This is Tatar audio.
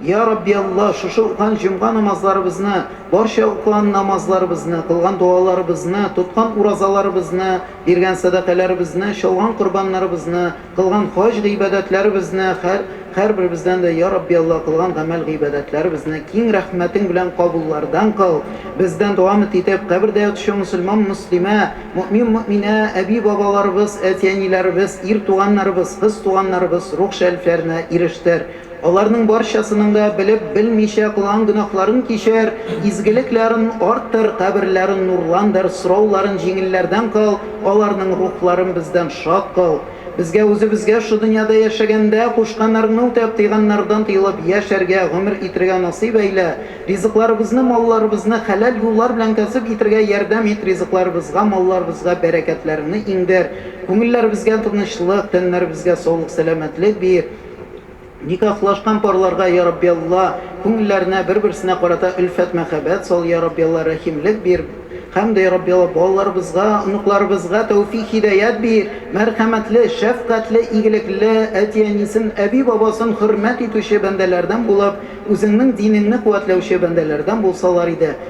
Йа Рабби Аллаһ, шушы укыган җомга намазларыбызны, барча укыган намазларыбызны, кылган догаларыбызны, тоткан уразаларыбызны, биргән сәдакәләребезне, чалган корбаннарыбызны, кылган хаҗ гыйбадәтләребезне, хәр, хәрберебездән дә, йа Рабби Аллаһ, кылган гамәл гыйбадәтләребезне киң рәхмәтең белән кабуллардан кыл, бездән дәвамыт итеп, кабердә ятучы мөселман мөслимә, мөэмин мөэминә, әби бабаларыбыз, әти әниләребез, ир туганнарыбыз, кыз туганнарыбыз рух шәрифләренә ирештер. Аларның барчасының да белеп, белмичә кылган гөнаһларын кичер, изгелек ләрен арттыр, каберләрен нурландыр, сорау ларын җиңелләрдән кыл, аларның рухларын бездән шат кыл. Безгә үзебезгә шу дөньяда яшәгәндә кушканнарыңны үтәп, тыйганнардан тыелып я шәргә гомер итергә насыйп әйлә, ризыкларыбызны, малларыбызны хәләл юллар белән кәсеп итергә ярдәм ит, ризыкларыбызга, малларыбызга бәрәкәтләреңне иңдер, күңелләребезгә тынычлык, тәннәребезгә саулык-сәламәтлек бир. Никахлашкан парларга, Йа Рабби Алла, күңелләренә бер-берсенә карата өлфәт-мәхәббәт сал, Йа Рабби Алла, рәхимлек бир, һәм дә, Йа Рабби Алла, балаларыбызга, оныкларыбызга тәүфик-һидәят бир, мәрхәмәтле, шәфкатьле, игелекле, әти-әнисен, әби-бабасын хөрмәт итүче бәндәләрдән булып, Үзеңнең динеңне куәтләүче бәндәләрдән булсалар иде.